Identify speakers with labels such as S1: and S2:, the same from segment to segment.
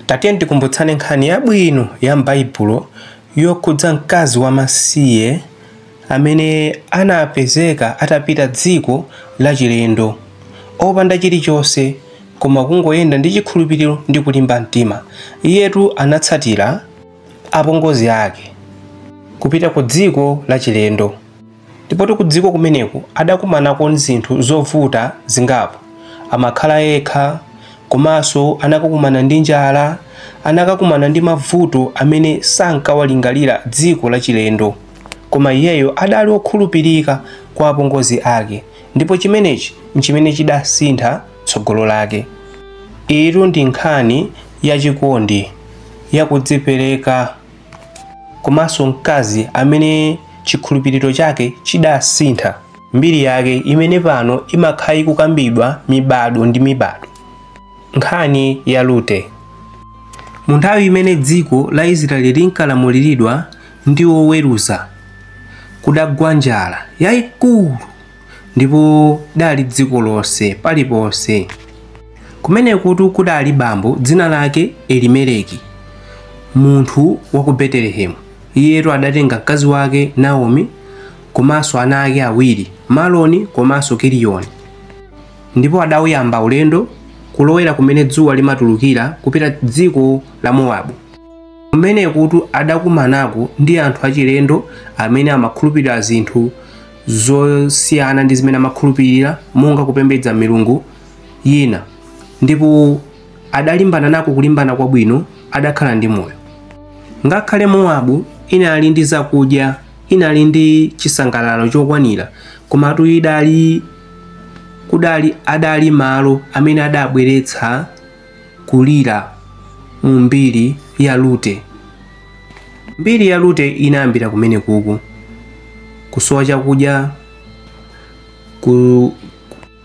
S1: Tatiye tikumbutsane nkhani yabwino ya m'Baibulo yokhudza mkazi wamasiye amene anapezeka atapita dziko lachilendo opanda chilichonse koma kungoyenda ndi chikhulupiriro ndi kulimba mtima. Iyetu anatsatira apongozi ake kupita kudziko lachilendo. Ndipotu kudziko kumeneko adakumanako ndi zinthu zovuta zingapo. Amakhala yekha, komanso anakakumana ndi njala, anakakumana ndi mavuto amene sankawalingalira dziko lachilendo. Koma iyeyo adali okhulupirika kwa apongozi ake ndipo chimenechi n'chimene chidasintha tsogolo lake. Iyitu ndi nkhani ya chikondi, ya kudzipereka. komanso mkazi amene chikhulupiriro chake chidasintha mbiri yake imene pano imakhala ikukambidwa mibado ndi mibado nkhani ya Rute mu nthawi imene dziko la Israeli linkalamuliridwa ndi oweruza kudagwa njala yayikulu ndipo idali dziko lonse paliponse. Kumenekutu kudali bambo dzina lake Elimeleki, munthu wa ku Betelehemu. Iyetu adatenga mkazi wake Naomi komanso ana ake awiri Maloni komanso Kiliyoni, ndipo adauyamba ulendo kulowera kumene dzuwa limatulukira kupita dziko la Mowabu. Kumenekutu adakumanako ndi anthu achilendo amene amakhulupirira zinthu zosiyana ndi zimene amakhulupirira monga kupembedza milungu yina ndipo adalimbana nako kulimbana kwabwino adakhala ndi moyo ngakhale mowabu inali ndi zakudya inali ndi chisangalalo chokwanira komatu idali kudali adali malo amene adabweretsa kulira mu mbiri ya Rute. Mbiri ya Rute inayambira kumenekuku kusowa chakudya,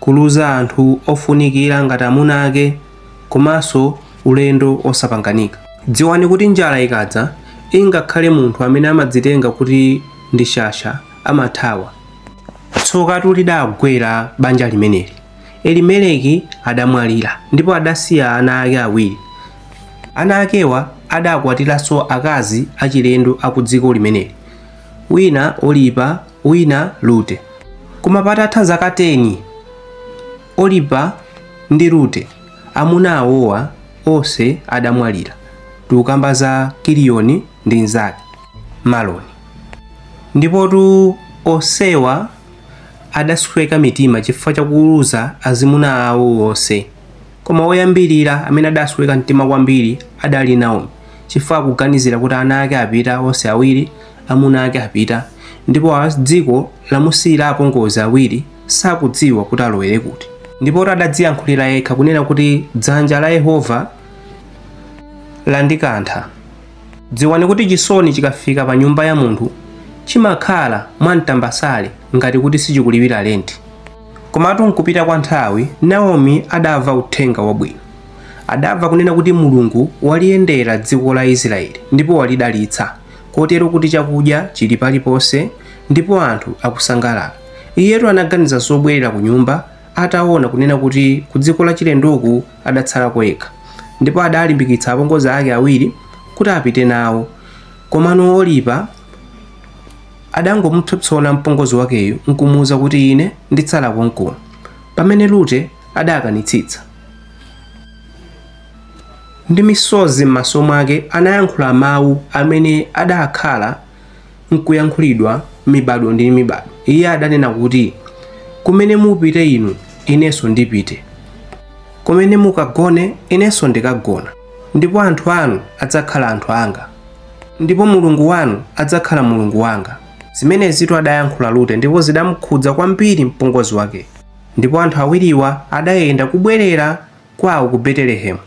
S1: kuluza anthu ofunikira ngati amuna ake komanso ulendo osapanganika. Dziwani kuti njala ikadza ingakhale munthu amene amadzitenga kuti ndi shasha amathawa. Tsokatu lidagwera banja limeneli. Elimeleki adamwalira ndipo adasiya ana ake awiri. Ana akewa adakwatiranso akazi achilendo a ku dziko limeneli, wina Olipa, wina Rute. Koma patatha zaka 10, Olipa ndi Rute amuna awowa onse adamwalira. Tikukamba za Kiliyoni ndi mnzake Maloni. Ndipotu onsewa adasweka mitima chifukwa cha kuluza azimuna awo onse. Koma woyambirira amene adasweka mtima kwambiri adali Naomi, chifukwa akuganizira kuti ana ake apita onse awiri, amuna ake apita, ndipo dziko lamusiyira apongozi awiri sakudziwa kuti alowere kuti. Ndipotu adadziyankhulira yekha kunena kuti dzanja la Yehova landikantha. Dziwani kuti chisoni chikafika pa nyumba ya munthu chimakhala mwa mtambasale ngati kuti sichikulipira lenti. Komatu m'kupita kwa nthawi, Naomi adamva uthenga wabwino. Adamva kunena kuti Mulungu waliyendera dziko la Israele ndipo walidalitsa, kotero kuti chakudya chili paliponse ndipo anthu akusangalala. Iyetu anaganiza zobwerera kunyumba ataona kunena kuti ku dziko lachilendoku adatsalako yekha ndipo adalimbikitsa apongozi ake awiri kuti apite nawo komano Oripa adangomupsompsona mpongozi wakeyo nkumuwuza kuti ine nditsala konkuno pamene Rute adakanitsitsa ndi misozi m'maso mwake anayankhula mawu amene adakhala n'kuyankhulidwa mibado ndi mibado. Iye adanena kuti, Kumene mupite inu, inenso ndipite. Kumene mukagone, inenso ndikagona. Ndipo anthu anu adzakhala anthu anga. Ndipo Mulungu wanu adzakhala Mulungu wanga. Zimenezitu adayankhula Rute ndipo zidamukhudza kwambiri mpongozi wake. Ndipo anthu awiriwa adayenda kubwerera kwawo ku Betelehemu.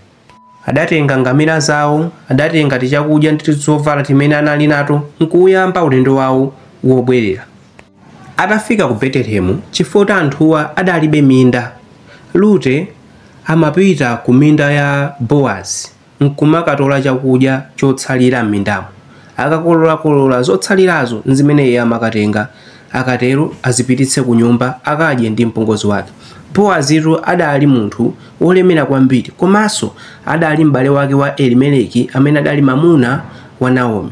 S1: Adatenga ngamira zawo, adatenga tichakudya ndi tizovala timene anali nato, nkuwuyamba ulendo wawo wobwerera. Atafika ku Betelehemu, chifukwa anthuwa adalibe minda, Rute amapita ku minda ya Bowazi nkumakatola chakudya chotsalira m'mindamo. Akakololakolola, zotsalirazo nzimene iye amakatenga Akatero azipititse kunyumba akadye ndi mpongozi wake. Bowazitu adali munthu wolemera kwambiri, komanso adali m'bale wake wa Elimeleki amene adali mamuna wa Naomi.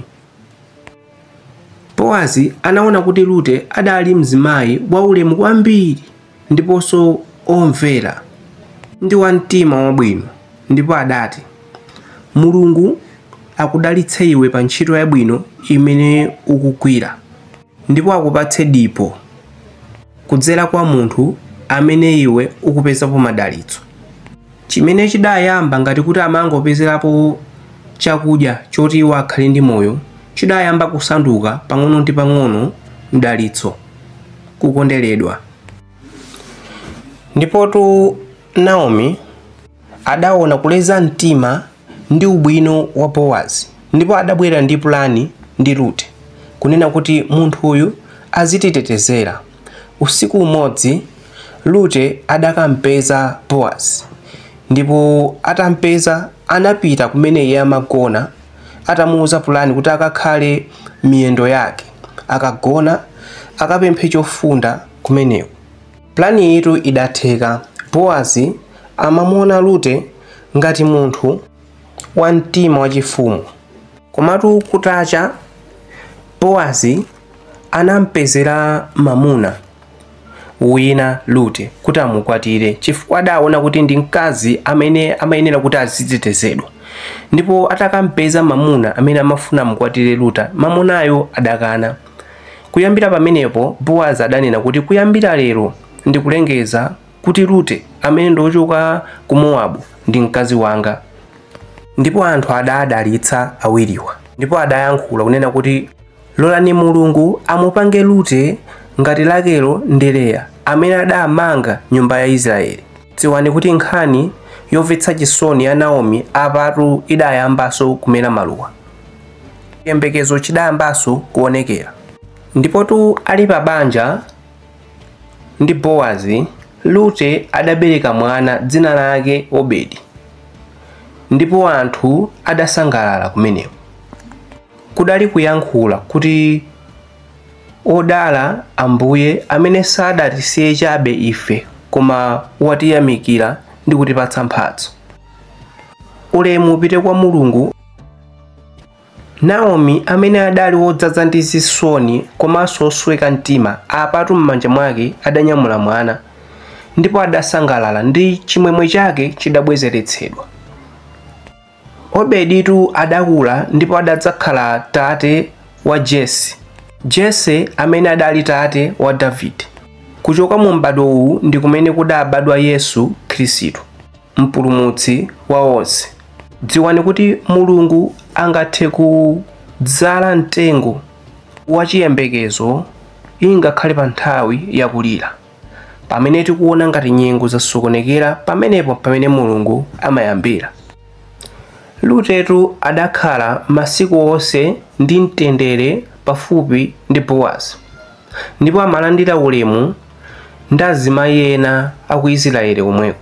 S1: Bowazi anaona kuti Rute adali mzimayi waulemu kwambiri ndiponso omvera ndi wa mtima wabwino, ndipo adati, Mulungu akudalitse iwe pa ntchito yabwino imene ukugwira. ndipo akupatse dipo kudzera kwa munthu amene iwe ukupezapo madalitso chimene chidayamba ngati kuti amangopezerapo chakudya choti iwo akhale ndi moyo chidayamba kusanduka pang'ono ndi pang'ono mdalitso kukonderedwa ndipotu Naomi adaona kuleza mtima ndi ubwino wa Boazi ndipo adabwera ndi pulani ndi Rute kunena kuti munthu uyu azititetezera. Usiku umodzi Rute adakampeza Boazi ndipo atampeza anapita kumene iye amagona atamuuza pulani kuti akakhale miyendo yake akagona akapemphe chofunda kumeneko. Pulaniyitu idatheka. Boazi amamuona Rute ngati munthu wa mtima wachifumu. Komatu kutacha, Boazi anampezera mamuna wina Rute kuti amukwatire chifukwa adaona kuti ndi mkazi amene amayenera kuti azitetezedwa. Ndipo atakampeza mamuna amene amafuna amukwatire Rute, mamunayo adakana. Kuyambira pamenepo, Boazi adanena kuti, Kuyambira lero ndikulengeza kuti Rute, amene ndi wochoka ku Mowabu, ndi mkazi wanga. Ndipo anthu adaadalitsa awiriwa, ndipo adayankhula kunena kuti, Lolani Mulungu amupange Rute ngati Rakelo ndi Leya, amene adamanga nyumba ya Israele. Dziwani kuti nkhani yomvetsa chisoni ya Naomi apatu idayambanso kumera maluwa. chiyembekezo chidayambanso kuonekera ndipotu ali pa banja ndi bowazi rute adabereka mwana dzina lake obedi ndipo anthu adasangalala kumeneko kudali kuyankhula kuti odala ambuye amene sadatisiye chabe ife koma watiyamikira ndi kutipatsa mphatso ulemu upite kwa mulungu naomi amene adali wodzaza ndi zisoni komanso wosweka mtima apatu m'manja mwake adanyamula mwana ndipo adasangalala ndi chimwemwe chake chidabwezeretsedwa obeditu adakula ndipo adadzakhala tate wa jese jese amene adali tate wa davide kuchoka mu m'badwo uwu ndi kumene kudabadwa yesu khristu mpulumutsi wa onse dziwani kuti mulungu angathe kudzala mtengo wa chiyembekezo ingakhale pa nthawi yakulira pamene tikuona ngati nyengo zasokonekera pamenepo pamene mulungu amayambira rutetu adakhala masiku onse ndi mtendere pafupi ndi bowazi ndipo amalandira ulemu ndi azimayi ena a ku Isiraeli komweko.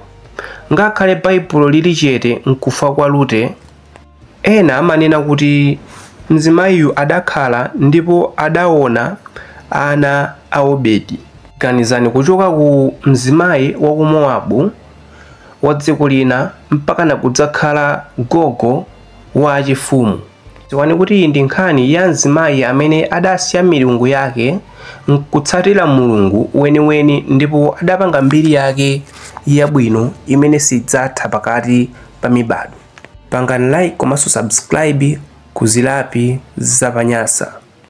S1: Ngakhale Baibulo lili chete n'kufa kwa Rute, ena amanena kuti mzimayiyu adakhala ndipo adaona ana a Obedi. Ganizani kuchoka ku mzimayi wa ku Mowabu wa dziko lina mpaka nakudzakhala gogo wa achifumu. dziwani kuti iyi ndi nkhani ya mzimayi amene adasiya milungu yake nkutsatira mulungu weniweni ndipo adapanga mbiri yake yabwino imene sidzatha pakati pa mibado pangani like komanso subscribe ku zilapi zapanyasa